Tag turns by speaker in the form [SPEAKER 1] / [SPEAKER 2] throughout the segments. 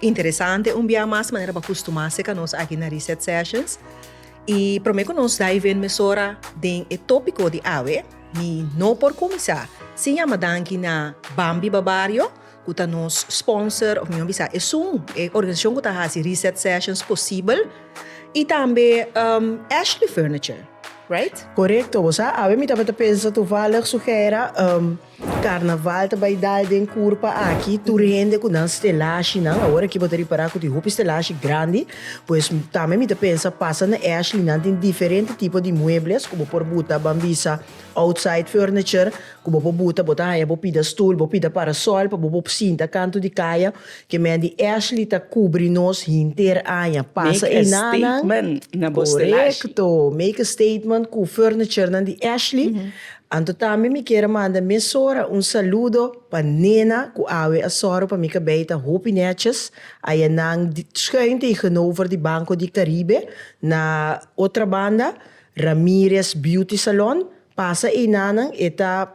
[SPEAKER 1] Interesante un bia mas manera pa kustumase ka nos aki na Reset Sessions. I prome ku nos dive in mesora den e topiko di awe, mi no por kuminsá sin yama danki na Bambi Babario ku ta nos sponsor òf mi no bisa esun e organisashon ku ta hasi Reset Sessions posibel i tambe Ashley Furniture, right? Korekto, bo sa awe mi tabata pensa toevallig su gera. Carnaval ta bai dal den Curpa aki tur hende cu nan stelashi nan awor aki bo ta ripara cu tin hopi stelashi grandi pues tambe mi ta pensa pasa na Ashley nan tin diferente tipo di muebles cu bo por buta ban bisa outside furniture cu bo por buta bo ta haya bo pida stoel bo pida parasol pa bo por sinta kantu di kaya ke medi Ashley ta cubri nos henter aña pasa ena nan corecto make a statement cu furniture nan di Ashley. Anto tambe mi kier a manda mesora un saludo pa Nena ku awe a sòru pa mi kabei ta hopi nètjes. Aya nan schuin tegenover di Banco di Caribe na otra banda, Ramirez Beauty Salon. Pasa einanan e ta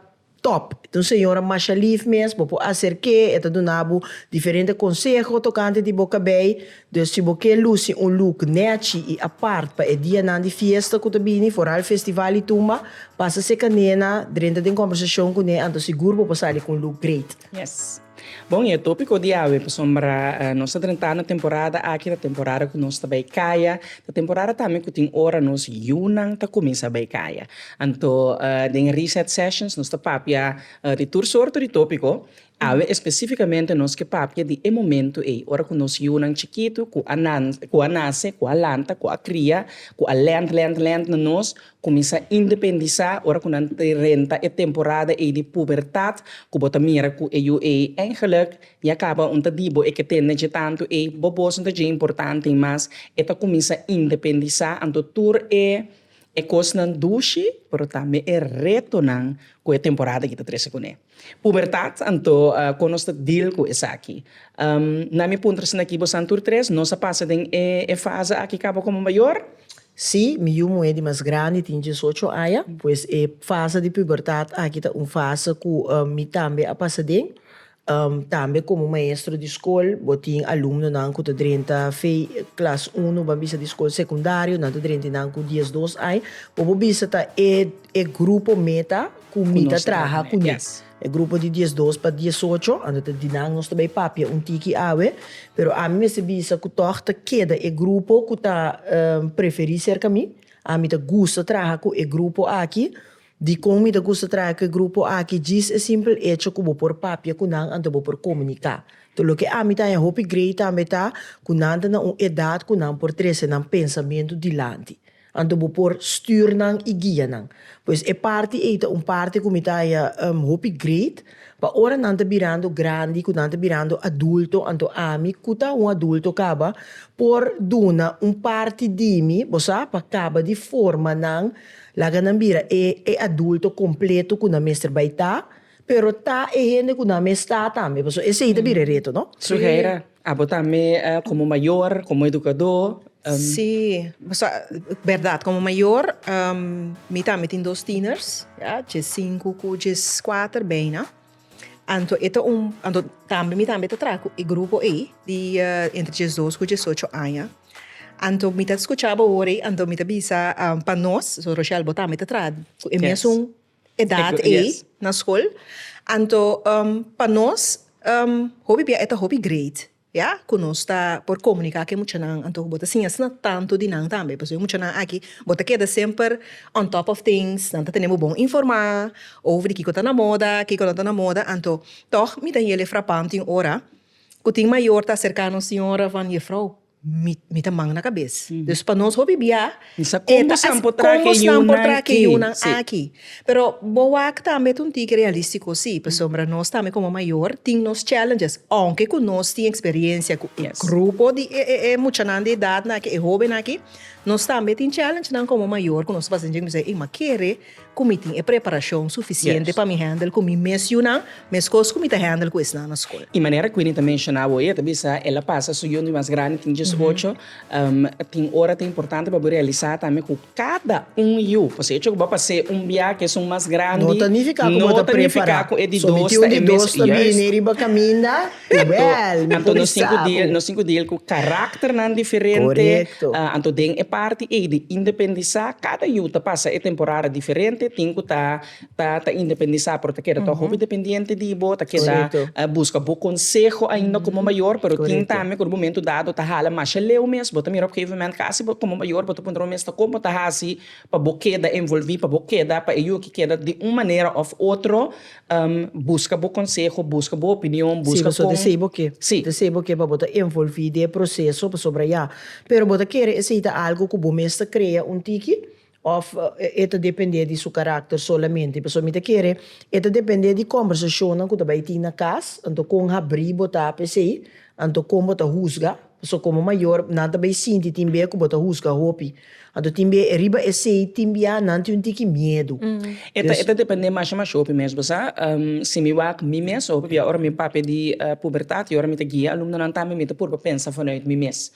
[SPEAKER 1] tòp. E ta un señora masha lif mes, bo por aserk'e, e ta duna bo diferente konseho tokante di bo kabei. Dus si bo ke lusi un luk nechi i apart pa e dianan di fiesta ku ta bini, foral festival i tumba, pasa se kanena drenta den kombersashon ku ne, anto sigur bo por sali ku un luk great. Yes. Bon, i e topiko di awe pasobra nos ta drenta na temporada aki, ta temporada ku nos ta bai kaya, ta temporada tambe ku tin ora nos yunan ta kuminsá bai kaya. Anto den e reset sessions nos ta papia di tur sorto di topiko. Awe espesífikamente nos ke papia di e momentu ei, ora ku nos yunan chikitu ku a ku a nase, ku a lanta, ku a kria, ku a lènt, lènt, lènt na nos kuminsá independisá, ora ku nan renta e temporada ei di pubertat, ku bo ta mira ku e yu ei eingelek ya kaba un ta di bo e ke tende dje tantu ei, bo bos no ta dje importante mas, e ta kuminsá independisá. Anto tur e e kosnan dushi, pero tambe e retonan ku e temporada ei ta trese kuné. Pubertat, anto kon nos ta deal ku esaki? Na mi puntra esaki aki, bo san tur tres nos a pasa den e fase aki kaba komo mayor? Sí, mi yu muhé di mas grandi tin diesocho aña, pues e fase di pubertat aki ta un fase ku mi tambe a pasa den. Tambe komo maestro di skol bo tin alumnonan ku ta drenta fe klas uno ban bisa di skol sekundario, nan ta drenta einan ku diesdos aña, pues bo bisa ta e grupo meta. ku mi ta traha ku ña. E grupo di diesdos pa diesocho anda ta di nan nos ta bai papia un tiki awe, pero ami mester bisa ku tòg ta keda e grupo ku ta preferí serka mi, ami ta gusta traha ku e grupo aki. Dikon mi ta gusta traha ku e grupo aki? Djis e simpel echo ku bo por papia ku nan anto bo por komuniká. Nto loke ami ta haña hopi grei tambe ta ku nan ta na un edat ku nan por trese nan pensamentu dilanti. Anto bo por stuur nan i guia nan. Pues e parti ei ta un parti ku mi ta haña hopi great, pa ora nan ta birando grandi, ku nan ta birando adulto, anto ami ku ta un adulto kaba por duna un parti di mi, bo sa, pa kaba di forma nan, laga nan bira e adulto kompleto ku nan mester bai ta. Pero ta e hende ku nan mes ta tambe pasobra esei ta bira e reto no. Suheira, abo tambe komo mayor, komo edukadó. Sí, pasobra bèrdat komo mayor mi tambe tin dos tiener's ya, dje sinku ku dje kuater beina, anto e ta un, anto tambe mi tambe ta traha ku e grupo ei di entre djes dos ku djes ocho aña, anto mi ta skucha bo ora ei anto mi ta bisa pa nos, Rochel bo tambe ta traha ku e mesun edat ei na skol anto pa nos hopi bia e ta hopi great ya ku nos ta por komuniká ku e muchanan anto ku bo ta siña asina tantu di nan tambe pasobra e muchanan aki bo ta keda semper on top of things nan ta tene bo bon informá over di kiko ta na moda kiko no ta na moda anto tòg mi ta yele frapán tin ora ku tin mayor ta aserká nos tin ora van yefrou Mi ta man na kabes. Dus pa nos hopi bia e ta asina. Kòmbo san por traha e yunan aki? Pero bo wak tambe ta un tiki realístiko si. Pasobra nos tambe komo mayor tin nos challenges. Ounke ku nos tin eksperensia ku e grupo di e muchanan di edatnan aki, e hóbennan aki, nos tambe tin challengenan komo mayor ku nos ta pasa djé ku nos ta kere, ey, ma kere. Ku mi tin e preparashon sufisiente pa mi hèndel ku mi mes yunan, meskos ku mi ta hèndel ku esnan na skol. I manera Queenie ta menshona abo, e ta bisa el a pasa su yundi mas grandi tin dies ocho, tin ora ta importante pa bo realisá tambe ku kada un yu, pasobra e hecho ku bo a pas'é un biaha ku esun mas grandi, no ta nifiká ku bo ta prepará, solamente un di dos ta bini riba kaminda. Jawel, mi por i sa bo. Nos sinku deel ku karakternan diferente, anto den e parti ei di independisá, kada yu ta pasa e temporada diferente, tin ku ta ta ta independisá, pero ta keda tok hopi dependiente di bo, ta keda buska bo konseho ainda komo mayor, pero tin tambe ku momentu dado ta hala masha leu mes, bo ta mira op gegeven moment kasi bo komo mayor bo ta puntra bo mes ta kon bo ta hasi pa bo keda envolví, pa bo keda pa e yu a ke keda di un manera òf otro. Buska bo konseho, buska bo opinion, buska kon. Si bo ta dese bo ke, bo ta dese bo ke pa bo ta envolvi den e proseso pasobra ya. Pero bo ta kere esei ta algu ku bo mes ta krea un tiki òf e ta depende di su karakter solamente? Pasobra mi ta kere e ta depende di kòmbersashonnan ku ta bai tin na kas, anto kon habri bo ta pa esei, anto kon bo ta husga. So komo mayor nan ta bay sinti tin bia ku bo ta husga hopi. Anto tin bia e riba esei tin bia nan tin un tiki miedu. E ta e ta depende masha masha hopi mes. Bo sa, si mi wak mi mes hopi bia ora mi papia di pubertat i ora mi ta guia alumnonan tambe mi ta purba pensa vanuit mi mes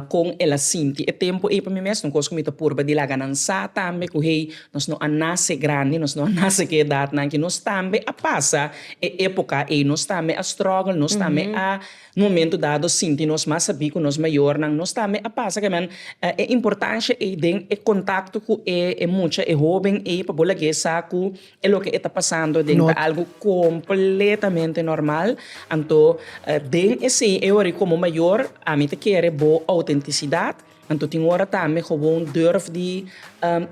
[SPEAKER 1] kon el a sinti e tempu ei pa mi mes. Un kos ku mi ta purba di laga nan sa tambe ku hey nos no a nase grandi, nos no a nase ku e edatnan ki nos tambe a pasa e epoka ei, nos tambe a struggle, nos tambe a. Un momentu dado sinti nos mas sabí ku nos mayornan, nos tambe a pasa kiaman e importansha ei den e kontakto ku e mucha, e hóben ei pa bo lag'é sa ku e loke e ta pasando den ta algu kompletamente normal. Anto den esei e ora ei komo mayor ami ta kere bo outentisidat, anto tin ora tambe gewoon durf di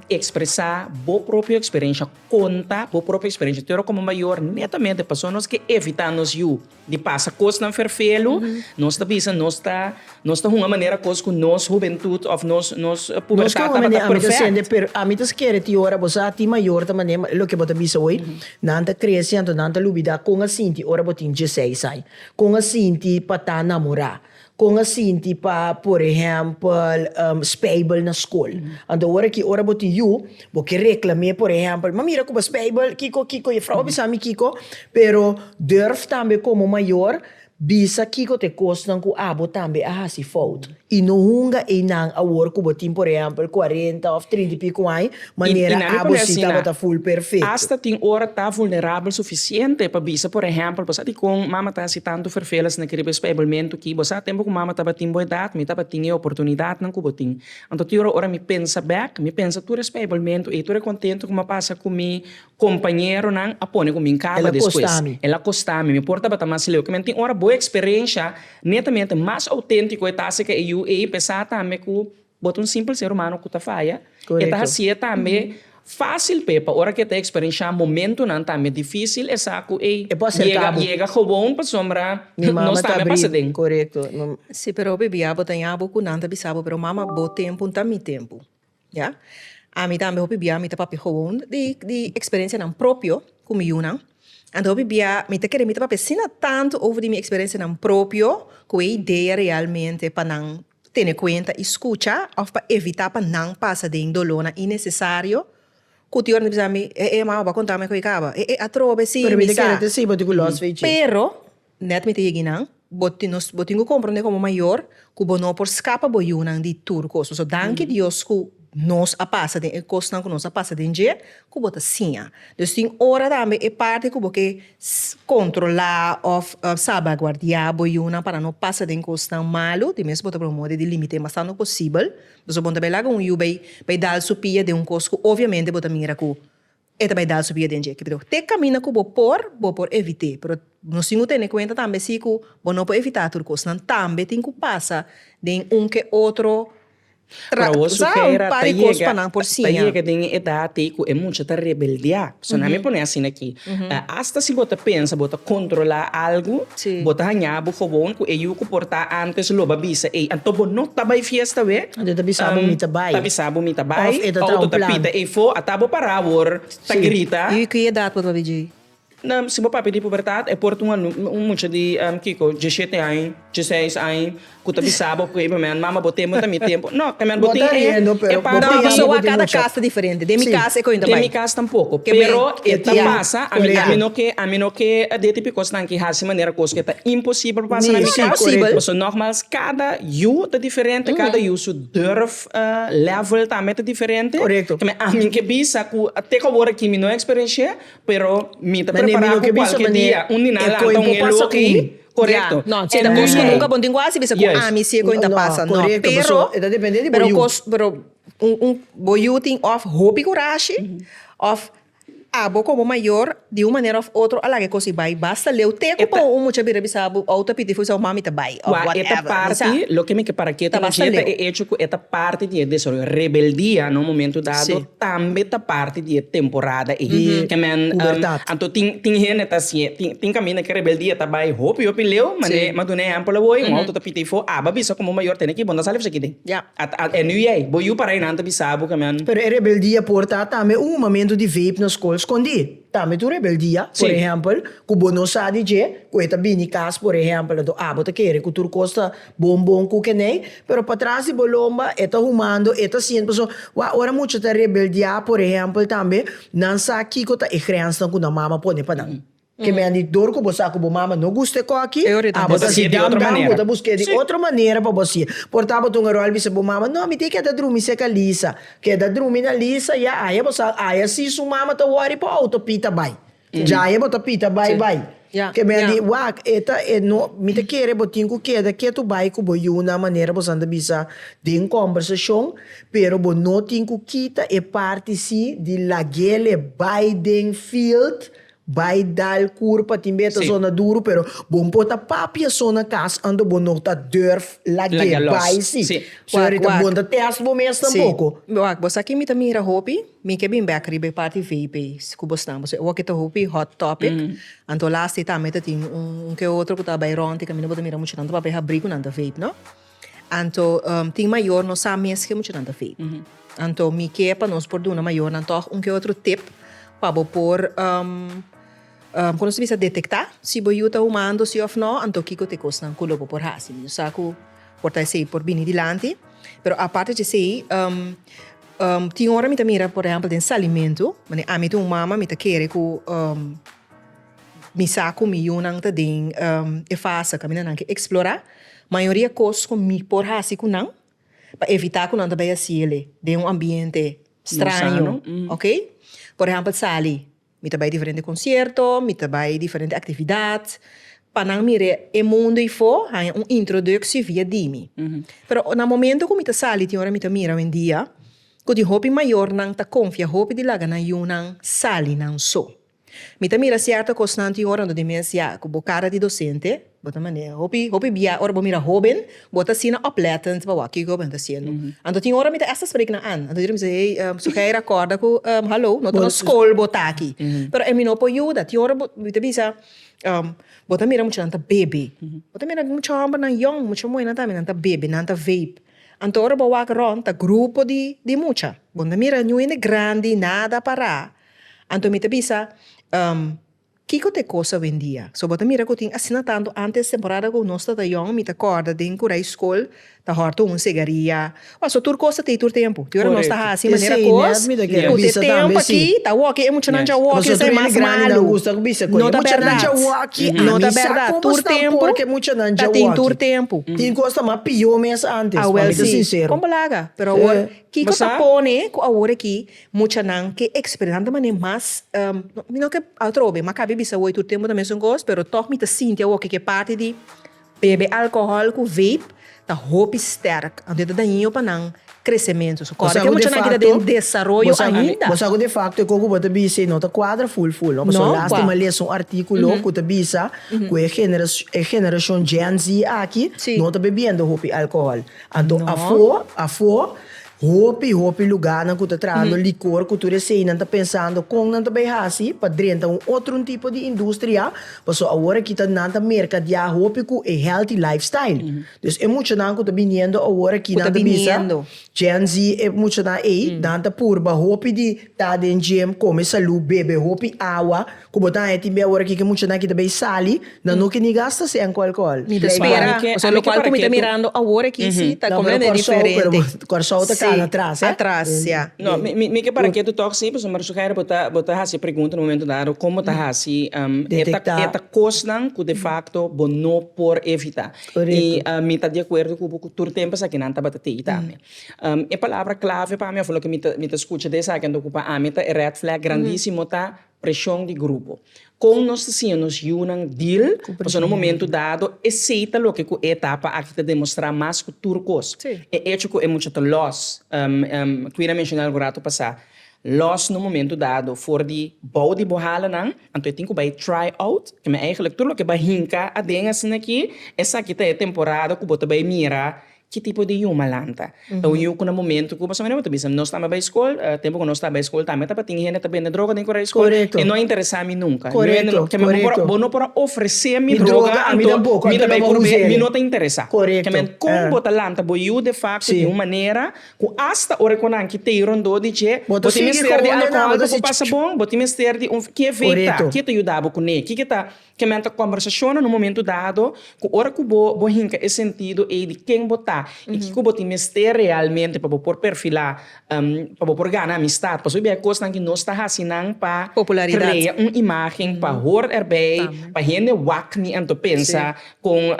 [SPEAKER 1] ekspresá bo propio eksperensha, konta bo propio eksperensha, te ora komo mayor netamente pasobra nos ke evitá nos yu. Di pasa kosnan ferfelu, nos ta bisa nos ta nos ta hunga manera kos ku nos hubentut òf nos nos pubertat tabata perfect. Ami ta skere tin ora bo sa tin mayor ta manera loke bo ta bisa hoy, nan ta krese anto nan ta lubidá kon a sinti ora bo tin diesseis aña, kon a sinti pa ta namorá. Kon a sinti pa por ehèmpel speibel na skol? Anto ora ki ora bo tin yu, bo ke reklam'é por ehèmpel, ma mira ku bo a speibel kiko kiko Jefrouw a bisa mi kiko, pero durf tambe komo mayor bisa kiko ta e kosnan ku abo tambe a hasi fout i no hunga einan awor ku bo tin por ehèmpel kuarenta òf trinta i piku aña. Manera abo si tabata full perfecto. Hasta tin ora ta vulnerabel suficiente pa bisa por ehempel bo sa dicon mama ta haci tanto verveles na cribi e spijbelmento ki. Bo sa tempo cu mama tabatin bo edad mi tabatin e oportunidadnan cu bo tin. Anto tin ora ora mi pensa bek mi pensa tur e spijbelmento ey tur e contento cu mi a pasa cu mi compañeronan a pone cu mi caba despues. El a costa mi mi por tabata mas leu. Kimen tin ora bo experencia netamente mas autentico e ta haci ca e yu ey p'esa tambe cu Bo ta un simpel ser humano cu ta faya. E ta haci'e tambe facil p'e pa ora cu e ta experensha momentonan tambe dificil e sa cu ey yega gewoon pasobra nos tambe a pasa den. Si, pero hopi bia bo ta ya bo cu nan ta bisa bo, pero mama bo tempo no ta mi tempo. Ya. Ami tambe hopi bia mi ta papia gewoon di experencianan propio cu mi yunan. Anto hopi bia mi ta kere mi ta papia asina tanto over di mi experencianan propio cu e idea realmente pa nan. tene kuenta i skucha òf pa evitá pa nan pasa den dolónan innesesario ku ti oran ta bisa mi, E e, mama bo a konta mi ku e kaba. E e, atrobe e sin mi sa. Pero, nèt mi ta yegi nan, bo tin nos bo tin ku komprondé komo mayor ku bo no por skapa bo yunan di tur kos. Pasobra danki Dios ku. nos a pasa den e kosnan ku nos a pasa den dje ku bo ta siña. Dus tin ora tambe e parti ku bo ke kontrolá òf salbaguardiá bo yunan pa nan no pasa den kosnan malu, di mes bo ta promoe di limit'é bastante posibel. Pasobra bo no ta bai laga un yu bai dal su pia den un kos ku obviamente bo ta mira ku E ta bai dal su bida den dje. Kibidó? Te kaminda ku bo por, bo por evit'é. Pero nos tin ku tene kuenta tambe si ku bo no por evitá tur kosnan, tambe tin ku pasa den un ku e otro tra, sa, un par di kos pa nan por siña. Pero a wosu kera ta yega, ta yega den e edat ei ku e mucha ta rebeldiá. So nan mi pon'é asina aki. Asta si bo ta pensa bo ta kontrolá algu, bo ta hañá bo gobon ku e yu ku por ta antes lo ba bisa, ei, anto bo no ta bai fiesta wé. Anto e ta bisa bo mi ta bai. Ta bisa bo mi ta bai. Of e ta traha un plan. Auto ta pita ei fo a ta bo para awor ta grita. Si. I ku edat bo ta bai djei? Si bo papia di pubertat e por ta un mucha di kiko djeshete aña djeseis aña ku ta bisa bo p'e momen mama bo tempu ta mi tempu no ta mira bo tin e parti di. Pasobra a kada kas ta diferente den mi kas e koin ta bai. Den mi kas tampoko pero e ta pasa ami no ke ami no ke a deti p'e kosnan ki hasi manera kos ku e ta imposibel pa pasa na mi kas paso nogmals kada. Yu ta diferente, kada yu su durf level tambe ta diferente. Korekto. Te mi ami ke bisa ku te ku awor aki mi no eksperenshé, pero mi ta prepará ku kualke dia un di nan a lanta un helu aki, korekto. E kos ku nunka bo no tin ku hasi bisa ku ami si e kos ta pasa, no. Pero, pero kos, pero un, un, bo yu tin òf hopi kurashi, òf. Abo komo mayor di un manera of otro a laga e kosi bai basta leu te ku por un mucha bira bisa abo ou ta pidi fu esau mami ta bai of whatever misa. Kua e ta parti loke mi ke para ketu na dje ta e echo ku e ta parti di e desaroyo rebeldia na un momento dado tambe ta parti di e temporada ei ke men anto tin tin hende ta si tin kaminda ke rebeldia ta bai hopi hopi leu mane ma duna ehempel awor un outo ta pidi fu aba bisa komo mayor tene ki bo nda sali fasi kidi. Ya, ata e nu yei. Bo yu para e nan ta bisa bo ke men. Pero e rebeldia por ta tambe un momento di vape na skol skondí. Tambe ta un rebeldia, por ehèmpel, ku bo no sa di dje, ku e ta bini kas, por ehèmpel, anto abo ta kere ku tur kos ta bon bon ku kenei, pero patras di bo lomba e ta humando, e ta siente. Pasobra wak ora mucha ta rebeldia, por ehèmpel tambe, nan sa kiko ta e grensnan ku nan mama pone pa nan. Ke mendidor ku bo sa ku bo mama no gusta e kos aki, abo ta si dam dam, bo ta busk'é di otro manera pa bo si'é. Por ta bo ta un arual bisa bo mama, No, mi tin keda drumi serka Lisa. Keda drumi na Lisa, ya aya bo sa, aya si su mama ta wòri por outo pita bai. Djaye bo ta pita bai bai. Ke men a di, Wak, e ta, e no, mi ta kere bo tin ku keda ketu bai ku bo yu nan manera bo san ta bisa den kòmbersashon, pero bo no tin ku kita e parti si di lag'é le bai den field Bai dal cur pa tin beta zona duro pero bon por ta papia zona cas ando bon no ta durf lage bai si. So ahorita bon ta test bo mes tampoco. Wak bo sa ki mi ta mira hopi? Mi ke bin bek riba e parti vape ei cu bo snap. Boso e oki ta hopi hot topic anto last day tambe ta tin un ke otro cu ta bai rond y caminda bo ta mira mucha nan ta papia habricunan ta vape no. Anto tin mayor no sa mes ke muchanan ta feet. Anto mi ke pa nos por duna mayornan tog un ke otro tip pa bo por ku nos ta bisa detekta si bo yu ta humando si of no anto kiko te kosnan ku lo bo por hasi. Mi no sa ku por ta esei por bini dilanti pero aparte di esei tin ora mi ta mira por ehempel den salimentu mane ami ta un mama mi ta kere ku. Mi sa cu mi yunan ta den e fase caminda nan ke explora. Mayoria cos cu mi por haci cu nan pa evita cu nan ta bay haci el'e den un ambiente straño, ok. Por ehempel sali, mi ta bay diferente concierto, mi ta bay diferente actividad pa nan mir'e e mundo ey for, haya un introducci via dimi. Pero na momento cu mi ta sali tin ora mi ta mira owendia cu tin hopi mayornan ta confia hopi di laga nan yunan sali nan so. Mi ta mira cierto cosnan tin ora ando demencia cu bo cara di docente bo ta mane hopi hopi bia ora bo mira hoben bo ta asina oplettend pa wak kico hoben ta haciendo anto tin ora mi ta esta spreken na an anto yera mi ta sibi hey Suheir acorda cu hallo no ta nos school bo ta aki pero e mi no por yuda tin ora bo mi ta bisa bo ta mira muchanan ta bebe bo ta mira mucha hombernan yong mucha muhernan tambe nan ta bebe nan ta vape anto ora bo wak rond ta grupo di mucha bo na mira ninguna hende grandi nada para Anto mi ta bisa, Um, kiko ta e kos awendia? So bo ta mira ku tin asina tantu antes temporada ku nos tata yòn, mi ta kòrda den kura i skol ta hòrtu un segaria. Paso tur kos ta tei tur tempu. Di ora nos ta hasi manera kos, ku te tempu aki ta wòki, e muchanan dja wòki, esei mas malu. No ta bèrdat. No ta bèrdat. Tur tempu ta tin tur tempu. Awel si. Kon bo laga. Pero awor, kiko ta pone ku awor aki. Muchanan ke eksperentan ta manera mas mi no ke atrobe mi a kabe bisa awoy tur tempu ta mesun kos pero tog mi ta sinti awo ke ke parti di bebe alkohòl ku veip ta hopi stèrk anto e ta dañino pa nan kresementu so kòrda ke muchanan ki ta den desaroyo ainda. Bo sa ku defakto e koku bo ta bisa i no ta kuadra ful ful no pasobra lastima lesa un artikulo ku ta bisa ku e e generashon Gen Z aki no ta bebiendo hopi alkohòl anto afo afo Hopi, hopi lugánan ku ta trahando likor ku tur eseinan ta pensando kon nan ta bai hasi pa drenta un otrun tipo di industria, paso awor kita nan ta merkadiá hopi ku e healthy lifestyle. Dus e muchanan ku ta biniendo awor aki nan ta bisa Gen Z e muchanan ei, nan ta purba hopi di ta den gym, kome salú, bebe hopi awa, Ku bo ta haña tin bia ora ki ke muchanan aki ta bay sali nan no ke ni gasta se enko alkohol. Mi ta spera lokual ku mi ta mirando awor aki si ta komplente diferente. Kòrsou ta kal atras eh. Atras ya. No mi mi ke para ketu tòg si pasobra mi sugere bo ta bo ta hasi e pregunta na un momento dado kon bo ta hasi Detekta. e ta kosnan ku de fakto bo no por evitá. I mi ta di akuerdo ku bo ku tur tempu esaki nan tabata tei tambe. E palabra klave pa mi òf loke mi ta mi ta skucha de esaki a ta okupa ami ta e rèd flèg grandísimo ta Preshon di grupo. Kon nos ta siña nos yunan dil ku preshon di grupo? Pasobra na un momentu dado esei ta loke ku e etapa aki ta demostrá mas ku tur kos. E echo ku e mucha ta lòs, Queen a menshona algu ratu pasá, lòs na un momentu dado for di bou di bo hala nan, anto e tin ku bai try out. Ke mi a, èigelik tur loke bo a hinka aden asina aki, esaki ta e temporada ku bo ta bai mira Ki tipo di yu malanta? Ta un yu ku na momentu ku pasobra bo ta bisa nos tambe bai skol, tempu ku nos ta bai skol tambe tabatin hende ku ta bende droga den Korea skol, e no a interesá mi nunka. Korekto. Bo no por a ofresé mi droga anto mi ta bai purb'é, mi no ta interesá. Korekto. Kon bo ta lanta bo yu de fakto di un manera ku asta ora ku nan kit'ei rondó di dje bo tin mester di alkohòl pa bo pasa bon, bo tin mester di un, ke veip ta, ke ta yuda bo kuné, kiko ta Kementa kombersashonnan un momentu dado ku ora ku bo bo hinka e sentido ei di ken bo ta i kiko bo tin mester realmente pa bo por perfilá pa bo por gana amistat pasobra biaha e kosnan aki nos ta hasi nan pa krea un imágen pa hort erbei pa hende wak mi anto pensa kon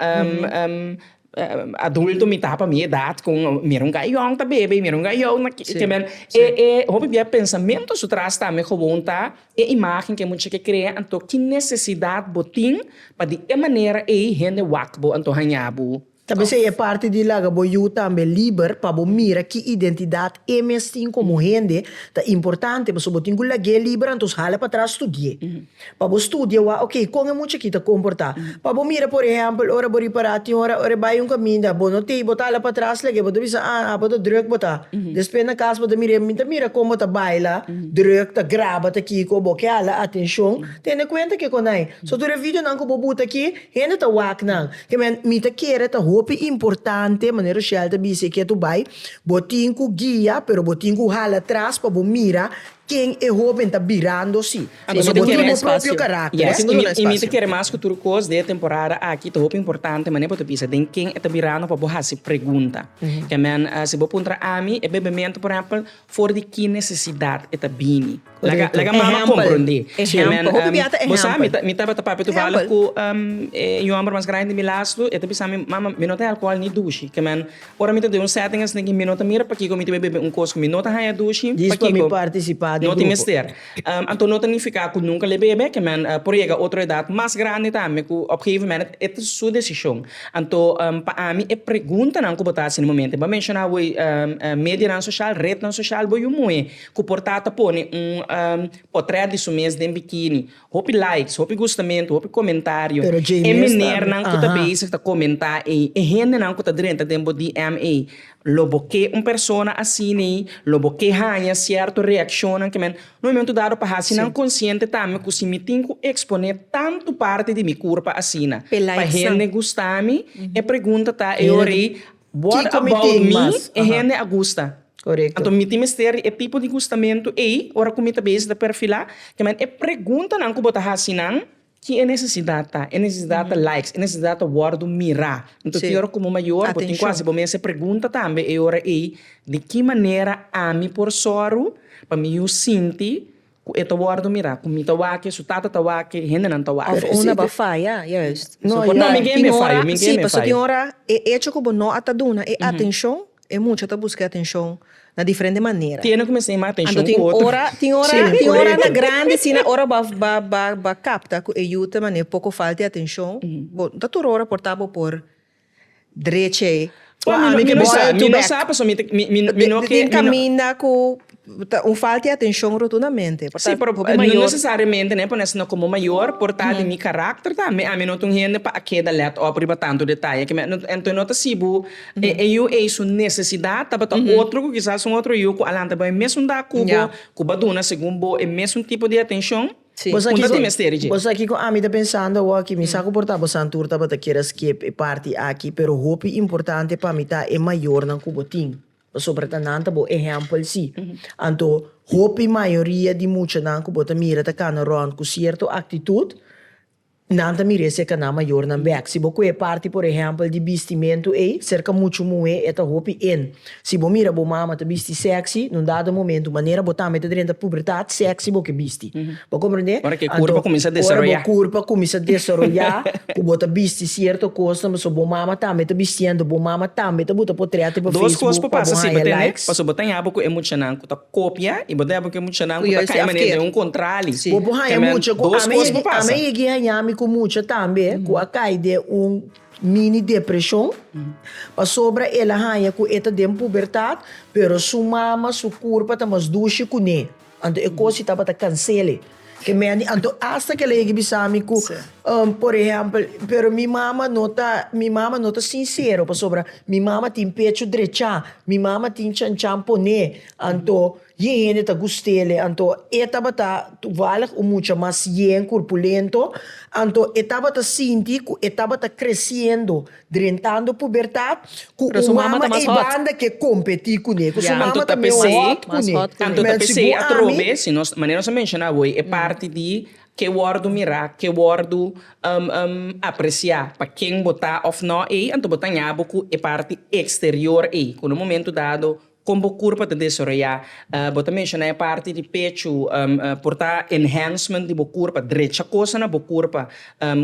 [SPEAKER 1] Adulto mi ta pa mi edat ku mira un gayònt ta bebe i mira un gayònt na ki ke men e e hopi bia pensamentu su tras tambe gewoon ta e imagen ke mucha ke krea anto ki nesesidat bo tin pa di e manera ei hende wak bo anto haña bo. Tal bes ei e parti di laga bo yu tambe liber pa bo mira ki identidat e mes tin komo hende ta importante pasobra bo tin ku lag'é liber antos hala patras studi'é. Pa bo studia wak oke kon e mucha aki ta komportá. Pa bo mira por ehèmpel ora bo ripará tin ora ora e bai un kaminda bo no tei bo ta hala patras lag'é bo ta bisa ah ah bo ta drùk bo ta. Despues na kas bo ta mir'é mi ta mira kon bo ta baila drùk ta graba ta kiko bo ke hala atenshon tene kuenta ke konai so tur e videonan ku bo buta aki hende ta wak nan ke men mi ta kere ta hopi importante manera Rushelle ta bis'é ke tu bai bo tin ku guia pero bo tin ku hala tras pa bo mira Ken e hóben ta birando si? Pasobra bo tin bo propio karakter. I mi ta kere mas ku tur kos den e temporada aki. Ta hopi importante manera bo ta bisa den ken e ta birando pa bo hasi pregunta. Kèmen si bo puntra ami e bebementu por ehèmpel for di ki nesesidat e ta bini? Laga mama komprondé. Kèmen bo sa mi tabata papia tubalig ku un yòmber mas grandi di mi las tu. E ta bisa mi, Mama, mi no ta e alkohòl ni dushi. Kèmen Ora mi ta den un setting asina ki mi no ta mira pakiko mi ta bai bebe un kos ku mi no ta haña dushi, pakiko no tin mester. Anto no ta nifiká ku nunka l'e bebe, ke men por yega otro edat mas grandi tambe ku op gegeven moment e ta su desishon. Anto pa ami e preguntanan ku bo ta hasi na e momentu e bo a menshoná awor medianan soshal, retnan soshal, bo yu muhe ku por ta ta pone un potrèt di su mes den bikini, Hopi likes, hopi gustamentu, hopi komentario. Pero Jamie esta. E menernan ku ta bezig ta komentá ei, e hendenan ku ta drenta den bo DM ei, lo bo ke un persona asina ei, lo bo ke haña sierto reakshonnan ke men. Un momentu dado pa hasi nan konsiente tambe ku si mi tin ku eksponé tantu parti di mi kurpa asina pa hende gusta mi, e pregunta ta e ora ei, What about me e hende a gusta. Anto mi tin mester di e tipo di gustamentu ei ora ku mi ta bes ta perfilá. Te men e preguntanan ku bo ta hasi nan, Kin e nesesidat ta? E nesesidat ta likes, e nesesidat ta wòrdu mirá. Anto tin ora ku bo mayor bo tin ku hasi bo mes e pregunta tambe e ora ei, Di ki manera ami por sòru pa mi yu sinti Ku e ta wòrdu mirá ku mi ta wak e su tata ta wak e hendenan ta wak. Òf un a ba faya, juist. So por no mingé me fayo, mingé me fayo. Sí, pasobra tin ora e echo ku bo no a ta duna e atenshon, e mucha ta buska e atenshon na diferente manera. Tiene ku mester yama atenshon ku otro. Anto tin ora, tin ora, tin ora na grandi asina ora bo a ba kapta ku e yu ta manera poko falta e atenshon, bo no ta tur ora por ta bo por. Drecha ei. Bo a mi ke bisa back. Mi no sa pasobra mi no ke. Den caminda cu ta un falta di atencion rotundamente. Si pero no necesariamente ne pone sino como mayor por ta den mi carácter tambe. Ami no ta un hende pa a keda let op riba tanto detaye ke me entonces no ta si bo e yu ei su necesidad tabata otro cu kisas un otro yu cu a lanta bai mesun dag cu bo cu ba duna segun bo e mesun tipo di atencion. Si. Bo sa Punta tin mester i dje. Bo sa kiko ami ta pensando awo aki, mi sa ku por ta bo santur tabata kier a skip e parti aki, pero hopi importante pa mi ta e mayornan ku bo tin, pasobra ta nan ta bo ehèmpel si. Anto hopi mayoria di muchanan ku bo ta mira ta kana rònt ku sierto aktitut, Nan ta mirese caná mayornan bek. Si bo cu e parti por ehempel di bistimentu ey, cerca mucho muhe e ta hopi in. Si bo mira bo mama ta bisti sexy, nun dado momentu manera bo tambe ta drenta pubertad, sexy bo ke bisti. Bo comprende? Ora ke curpa cuminsa desaroya. Anto, ora bo curpa cuminsa desaroya, cu bo ta bisti cierto cosnan, pasobra bo mama tambe ta bistiendo, bo mama tambe ta buta potreto pa Facebook pa bo haya likes. Dos cos por pasa si bo tene, pasobra bo ta ña bo cu e muchanan cu ta. kopia i bo ta heba ku e muchanan ku ta kai manera den un kontrali. Bo por haña mucha ku ami. Ami a yegi haña mi ku mucha tambe ku a kai den un mini depreshon pasobra el a haña ku e ta den pubertat pero su mama, su kurpa ta mas dushi kuné. Anto e kos tabata kansele. E meni anto asta ke lei ke bisa mi ku por ehèmpel pero mi mama no ta mi mama no ta sinsero pasobra mi mama tin pechu drechá mi mama tin chanchan pon'é anto yin hende ta gust'ele anto e tabata tuvalig un mucha mas yen kurpulento anto e tabata sinti ku e tabata kresiendo Drentando pubertat cu un mama ei banda ke competi cu ne. Cu su mama ta meo hot cu ne. Tanto ta pesey atrobe, si nos, manera nos a menciona awey, e parti di ke wordo mira, ke wordo aprecia pa ken bo ta of no ei, anto bo ta ña bo cu e parti exterior ei, cu na un momento dado, Kon bo kurpa ta desaroyá. Bo ta menshoná e parti di pechu por ta enhancement di bo kurpa, drecha kosa na bo kurpa.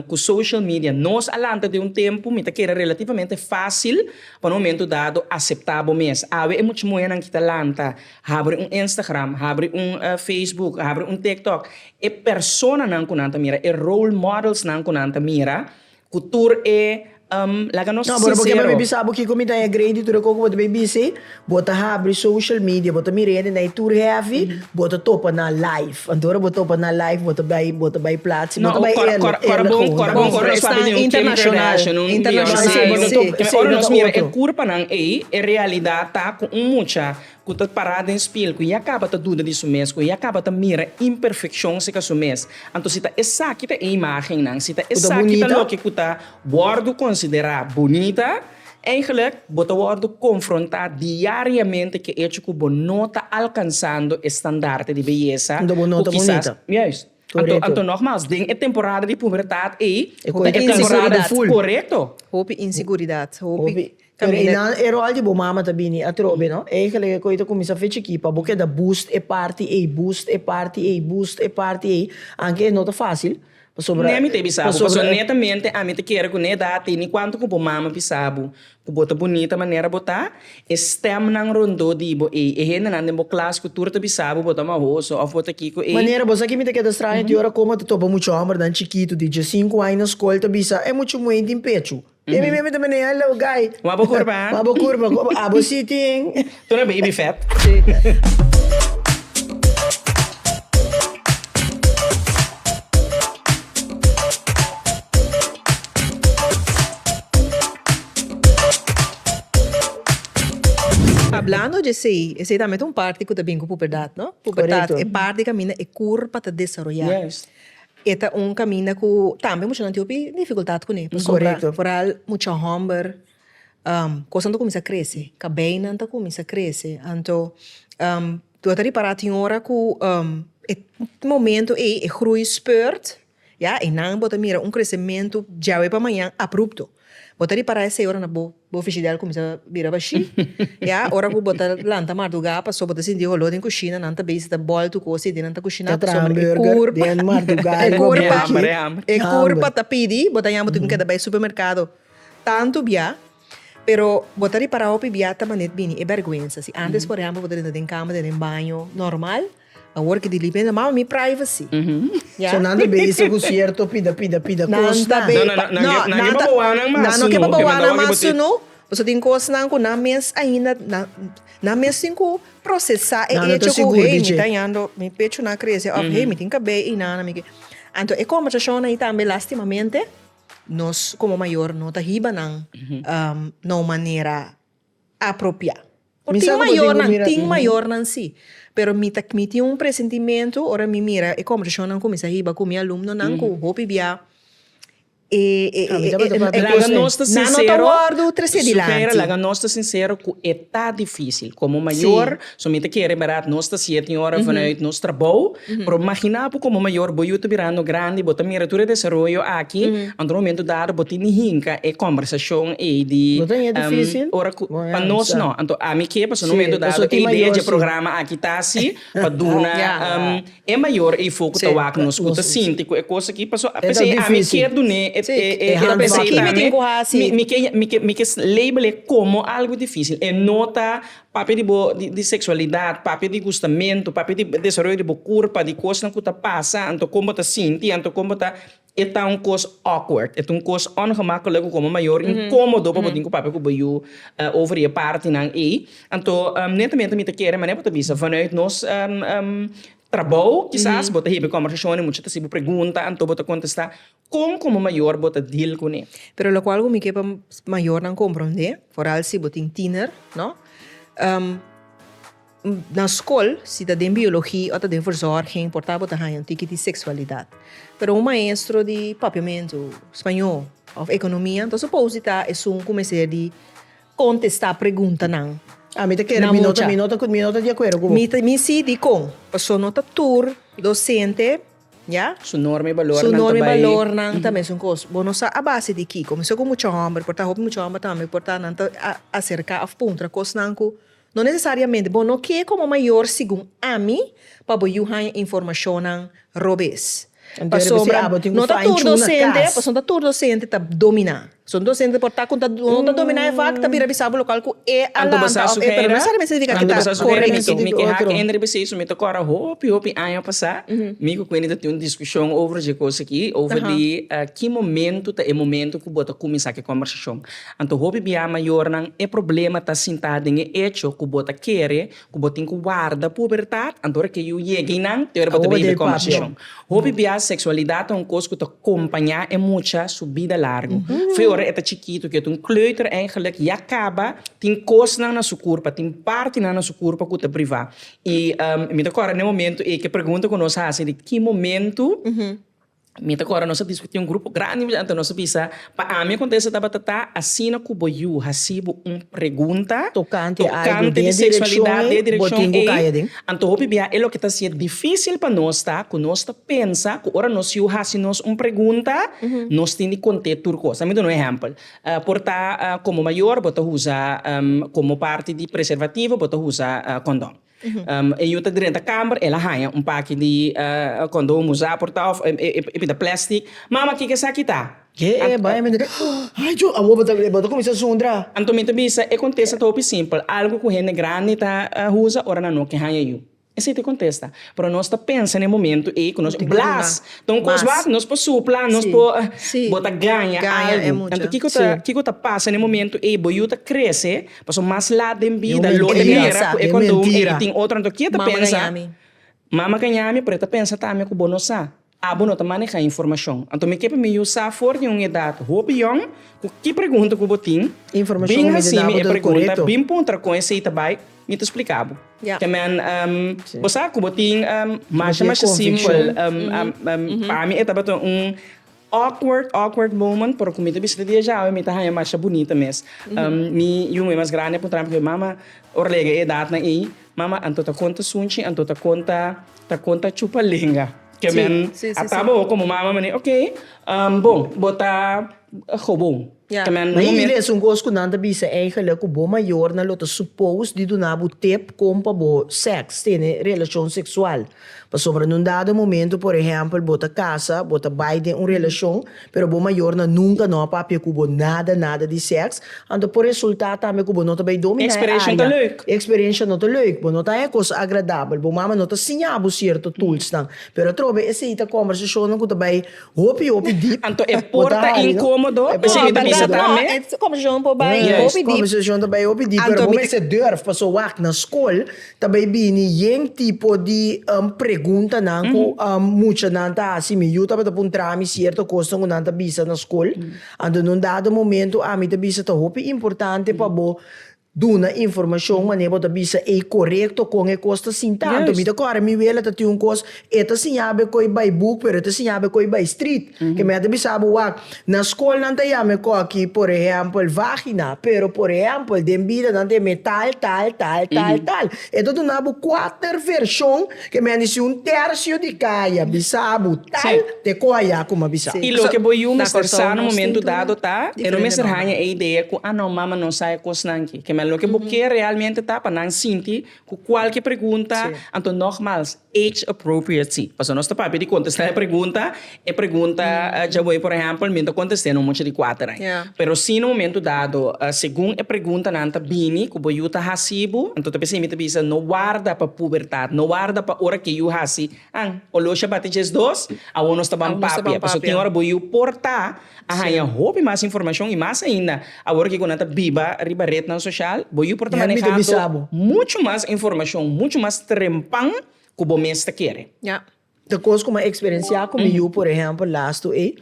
[SPEAKER 1] Ku social media nos a lanta den un tempu mi ta keda relativamente fásil pa un momentu dado aseptá bo mes. Awe e mucha muhénan ki ta lanta habri un Instagram, habri un Facebook, habri un TikTok, e personanan ku nan ta mira, e role modelsnan ku nan ta mira Cu tur e, um, laga nos sincero. Ahora bo ke pa mi bisa bo kiko mi ta e grade y tur e koko bo ta bay bizi? Bo ta habri social media, bo ta mira hende na e tur heavy, bo ta topa nan live. Anto ora bo topa nan live bo ta bay, bo ta bay plat, si bo ta bay eerlijk, eerlijk gewoon. Cora bon, cora bon, cora bon, nos pa bizi un Kim Kardashian, un Beyonce, un, ora nos mira e curpanan ey, e realidad ta cu un mucha ku ta pará den spiel, ku ya kaba ta duda di su mes, ku ya kaba ta mira imperfekshon seka su mes. Anto si ta esaki ta e imágennan, si ta esaki ta loke ku ta wòrdu konsiderá bunita, eindelijk bo ta wòrdu konfrontá diariamente ku e echo ku bo no ta alkansando e standarte di beyesa ku kisas. Juist. Anto nogmas, den e temporada di pubertat ei, e kos di temporada di ful. Korekto. Hopi insiguridad, hopi caminda. Pero e rol di bo mama ta bini atrobe, no? Eigenlijk e kos ei ta cuminsa fechi aki pa bo keda boost e parti ei, boost e parti ei, boost e parti ei, anke e no ta facil, pasobra. N'e mi ta bisa bo, pasobra netamente ami ta kere cu n'e edad ei, ni cuanto cu bo mama bisa bo, Ku bo ta bunita manera bo ta, e stèmnan rondó di bo ei, e hendenan den bo klas ku tur ta bisa bo bo ta mahoso òf bo ta kiko ei. Manera bo sa kimi ta keda straño di ora komo ta topa muchu hòmbernan chikitu di dje sinku aña na skol ta bisa, E muchu muhé tin pechu. Emi meme ta meneá el lou gai. Wak bo kurba. Wak bo kurba. Abo sí tin. Tu no baby fat. Hablando dje esey, esey tambe ta un parti cu ta bin cu puberdad, no? Puberdad e parti caminda e cur pa ta desaroya. E ta un caminda cu tambe mushanan tin hopi dificultad cune pasobra foral mucha homber. Kosnan ta kuminsá krese, kabeinan ta kuminsá krese, anto lo ta ripará tin ora ku e momentu ei e grui speurt, ya einan bo ta mira un kresementu djawe pa mañan aprupto, bo ta ripará esei ora nan bo bo frijidel kuminsá bira bashí, ya ora ku bo ta lanta mardugá pasó bo ta sinti oló den kushina nan ta bisa ta bòl tu kos ei di nan ta kushiná e kurpa ta pidi bo ta yama bo tin keda bai supermerkado. Tantu bia, pero bo ta ripará hopi bia ta manet bini e bèrgwensa. Si ántes, por ehèmpel, bo ta dentro den kama, ta den baño nòrmal, awor ki di limpia nan mama, mi privacy. Ya. So nan ta bezig ku sierto pida pida pida Nan kosnan. ta be- No, no, no, nan ke- nan ke pa bawa nan mas, Nan no ke pa sino, bawa nan mas sino, pasobra tin kosnan ku nan mes ainda nan nan mes tin ku prosesá e Nan no ta echo ku sigur di hey, mi dje. ta yando, mi pechonan a krese òf hey, mi tin kabei einan, mi ke. Anto e kòmbersashonnan ei tambe lastimamente. Nos komo mayor no ta hiba nan na un manera apropiá. Por tin mayornan, tin mayornan sí, pero mi ta mi tin un presentimentu ora mi mira e kòmpershonan ku mi sa hiba ku mi alumnonan ku hopi biá e e e kos nan no ta wòrdu trese dilanti. Laga nos ta sinsero ku e ta difísil. Komo mayor So mi ta kere berdad nos ta siye tin ora vanuit nos trabou, pero magina bo como mayor bo yu ta birando grandi bo ta mira tur e desaroyo aki anto un momento dado bo tin di hinca e conversacion ey di No ta ña dificil? ora cu Bon, ya, pa nos sa. no anto ami ke pasobra un Sí, momento dado paso tin e idea mayor, dje sí. programa aki ta asi pa duna Ya. e mayor ey foco Sí, ta wak nos cu nos ta sí. sinti cu e cos aki paso E ta p'esei ami dificil. kier dun'e e Sí, e e handvatten. p'esei Aki mi tin tambe cu hasi. mi mi ke mi ke mi ke label e como algo dificil e no ta Papia di bo di seksualidat, papia di gustamentu, papia di desaroyo di bo kurpa, di kosnan ku ta pasa, anto kon bo ta sinti, anto kon bo ta, e ta un kos awkward, e ta un kos ongemakkelijk ku komo mayor inkomodo pa bo tin ku papia ku bo yu over e partinan ei. Anto netamente mi ta kere manera ku ta bisa vanuit nos trabou kisas bo ta hebe kòmbersashonnan, mucha ta hasi bo pregunta, anto bo ta kontestá. Kon komo mayor bo ta deal kuné? Pero lokual ku mi ke pa mayornan komprondé, foral si bo tin tiner, no? Na skol, si ta den biologi o ta den verzorging, importa bo ta haña un tiki di seksualidat. Pero un maestro di Papiamentu, Spañó òf Ekonomia, entonse supos di ta esun ku mester di kontestá preguntanan na mucha. Mi ta kere, mi no ta, mi no ta di akuerdo ku bo. Mi si, dikon? Pasobra no ta tur dosente. Su norma i balornan ta mesun kos. Bo no sa a base di kiko. Mester ku mucha hòmber por ta hopi mucha hòmber tambe por ta nan ta aserká òf puntra kosnan ku no nesesariamente bo no ke komo mayor segun ami pa bo yu haña informashonnan robes. Pasobra no ta tur dosente pasobra no ta tur dosente ta dominá. Son dos hende por ta ku ta ku ta dominá e vak ta bira bisabo lokal ku e a lanta òf e pero no nesesariamente signifiká ku ta korekto. Mi keha ku Ender Bisey su mi ta kòrda hopi hopi aña pasá mi ku Quindy ta tin un diskushon over dje kos aki, over di ki momentu ta e momentu ku bo ta kuminsá ku e kòmbersashon. Anto hopi bia mayornan e problema ta sintá den e echo ku bo ta kere ku bo tin ku warda pubertat, anto ora ke yu yega einan, te ora bo ta bay hebe kòmbersashon. Hopi bias seksualidat ta un kos ku ta kompañá e mucha su bida largu. Fo ora e ta chikitu, ku e ta un kleuter eigelijk, ya kaba tin kosnan na su kurpa, tin partinan na su kurpa ku ta privá. I mi ta kòrda na e momentu ei ku e pregunta ku nos hasi di ki momentu, Mi ta kora nos a diskutí un grupo grandi di muyuantu, nos a bisa, Pa ami e kontesta tabata ta, Asina ku bo yu hasi bo un pregunta tokante di seksualidat den e direkshon ei, anto hopi bia e loke ta hasi e difísil pa nos ta ku nos ta pensa ku ora nos yu hasi nos un pregunta nos tin di kont'é tur kos. Dami duna un ehèmpel. Por ta komo mayor bo ta usa komo parti di preservativo bo ta usa kondòn. E yu ta drenta kamber, el a haña un paki di kondon usá por ta òf e pinta plèstik, Mama, kiko esaki ta? Ke e bai mi duna? Ay chu! Awor bo ta e bo ta kuminsá sundra. Anto mi ta bisa, e kontesta ta hopi simpel, algu ku hende grandi ta usa ora nan no ke haña yu. Esei ta e kontesta. Pero nos ta pensa na e momentu ei ku nos blas ta un kos wak, nos por supla, nos por bo ta gaña algu. Anto kiko ta kiko ta pasa na e momentu ei? Bo yu ta krese. Paso mas lat den bida lo e mira cu e condon ey e tin otro anto kie ta pensa mama ka ñami pero e ta pensa tambe cu bo no sa abo no ta maneha informacion anto mi ke pa mi yu sa for di un edad hopi yong cu ki pregunta cu bo tin bin hacimi e pregunta bin puntra con esey ta bay mi ta splica bo ke men bo sa cu bo tin masha masha simpel pami e tabata un. Awkward awkward moment pero cu mi ta bisa ta dia djawe mi ta haya masha bunita mes mi yu muhe mas grandi a puntra mi cu e mama ora a lega e edatnan ey mama anto ta conta sunchi anto ta conta ta conta chupa lenga ke men a tabo como mama mane ok bon bo ta gobon. Na e ile esun kos ku nan ta bisa eingele ku bo mayornan lo ta supous di duna bo tep kon pa bo seks, tene relashon seksual. Pasobra na un dado momento, por ehèmpel, bo ta kasa, bo ta bai den un relashon, pero bo mayornan nunka no a papia ku bo nada nada di seks, anto por resultá tambe ku bo no ta bai dòmi na e área. E eksperensha no ta leuk, bo no ta haña e kos agradabel, bo mama no ta siña bo sierto tulsnan. Pero atrobe esei ta kòmbersashonnan ku ta bai Hopi hopi deep. Anto e por ta incomodo o si mi ta bisa ta amé? No, e conversacion por bay hopi deep. Yes, conversacion ta bay hopi deep, pero bo mester durf, paso wak, na scol ta bay bini yen tipo di preguntanan cu muchanan ta haci. Mi yu tabata puntrami cierto cosnan cu nan ta bisa na scol, anto na un dado momento ami ta bisa ta hopi importante pa bo Duna informashon manera bo ta bisa ei korekto kon e kos ta sinta. Anto mi ta kòrda mi wela ta tin un kos e ta siña be koi bai buk pero e ta siña be koi bai strit. Ke mei a ta bisa bo wak na skol nan ta yama e koki por ehèmpel vagina pero por ehèmpel den bida nan ta yama tal tal tal tal tal. E ta duna bo kuater vershon. Ke men a di si un tersio di kai a bisa bo tal te koha ya kuma bisa. I loke bo yu mester sa na momentu dado ta, e no mester haña e idea ku a no mama no sa e kosnan ki. Ke men loke bo ke realmente ta pa nan sinti ku kualke pregunta, anto nogmals, age appropriacy. Pasobra nos ta papia di kontestá e pregunta E pregunta djaboe por ehempel mi ta contesté no mucha di cuater ai. Pero si na momento dado segun e preguntanan ta bini cu bo yu ta haci bo anto ta bisa mi ta bisa no warda pa pubertad no warda pa ora ke yu haci an oloshi a bati djes dos awor nos ta ban papia pasobra tin ora bo yu por ta a haña hopi mas informacion y mas ainda awor ke cu nan ta biba riba rednan social bo yu por ta manehando mucho mas informacion mucho mas trempan cu bo mes ta kere. Ta cos cu mi a experiencia cu mi yu, por ehempel, lastu ey,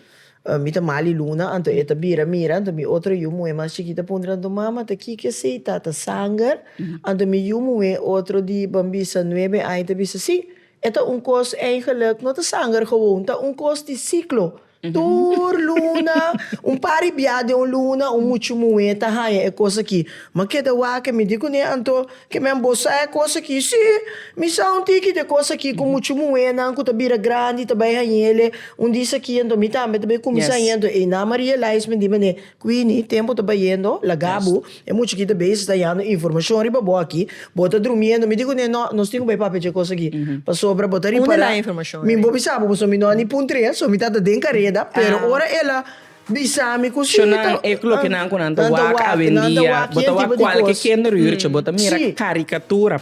[SPEAKER 1] mi ta mal y luna, anto e ta bira mira, anto mi otro yu muhe mas chikito a puntra anto, Mama, ta kiko esey? Ta ta sanger? Anto mi yu muhe otro di, ban bisa, nuebe aña ta bisa, Si, e ta un cos eigenlijk, no ta sanger gewoon, ta un cos di ciclo. Tur luna, un par di bia den un luna, un muchu muhé ta haña e kos akí. M'a keda waka, mi di ku Neanto, Kemen, bo sa e kos akí? Sí, mi sa un tiki di e kos akí ku muchu muhénan ku ta bira grandi ta bai hañ'é. Un di esaki, anto mi tambe ta bai kuminsá hañ'é. Anto einan Maria Elijsma di manera, Quini, tempo ta bayendo, laga bo, e mucha aki ta bay si ta yando informacion riba bo aki, bo ta drumiendo, mi di cu ne, no, nos tin cu bay papia dje cosa aki, pasobra bo ta ripara, mi bo bisa bo pasobra mi no a ni pun tres, so mi ta ta den careda, pero ora el a bisami cu si, ta, nan ta wak, nan ta wak, yen tipo di cos, si.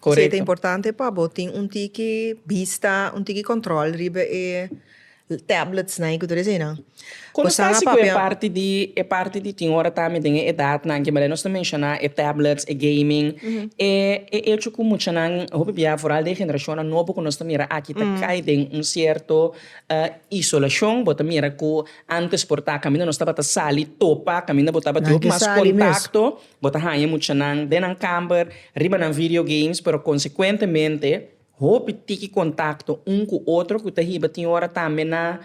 [SPEAKER 1] Korekto. Si ta importante pa bo tin un tiki bista, un tiki control riba e tabletsnan i ku tur eseinan. Kon nos ta hasi ku e parti di, e parti di tin ora ta ami den e edatnan ke bal'e nos ta menshoná e tablets, e gaming, e e echo ku muchanan, hopi bia foral di e generashonnan nobo ku nos ta mira aki ta kai den un sierto isolashon. Bo ta mira ku antes por ta kaminda nos tabata sali topa, kaminda bo tabata di hopi mas kontakto. Bo ta haña muchanan den nan kamber, riba nan video games, pero konsekuentemente hopi tiki kontakto un ku otro ku ta hiba tin ora tambe na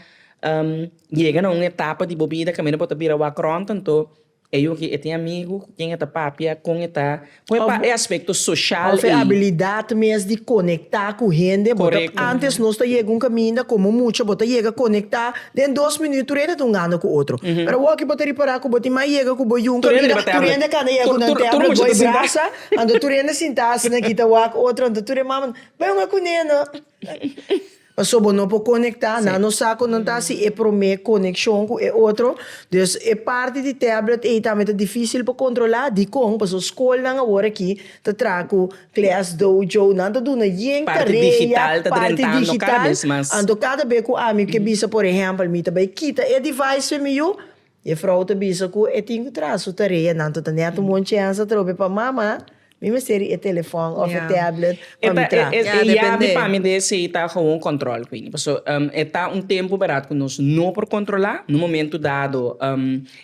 [SPEAKER 1] yega na un etapa di bo bida kaminda bo ta bira wak rònt. Anto e yu aki e tin amigu ku ken e ta papia, kon e ta pon e pa e aspekto soshal ei. Òf e abilidat mes di konektá ku hende. Bo ta, antes nos ta yega un kaminda komo mucha, bo ta yega konektá Den dos minut tur hende ta hungando ku otro. Pero awor ki bo ta ripará ku bo tin mas yega ku bo yunga. Tur hende riba tablet. Tur hende kanda yega ku nan tablet, tur mucha ta sinta. Goi brasa, anto tur hende sintá asina nan kita wak otro, anto tur e mama nan bai hunga kuné no. Paso bo no por konektá, nan no sa kon nan ta hasi e promé konekshon ku e otro. Dus e parti di tablet ei tambe ta difísil pa kontrolá. Dikon? Paso skolnan awor aki. Ta traha cu Class Dojo nan ta duna yen carea parti digital, anto cada bes cu ami ke bisa por ehempel mi ta bay kita e device pe mi yu, e vrouw ta bisa cu e tin cu traha su tarea nan to ta net un bon chance atrobe pa mama mi mester ri e telefon of e tablet pa mi traha. E yabi pa mi de esey ta gewoon control cu ini, pasobra e ta un tempo berad cu nos no por controla, na un momento dado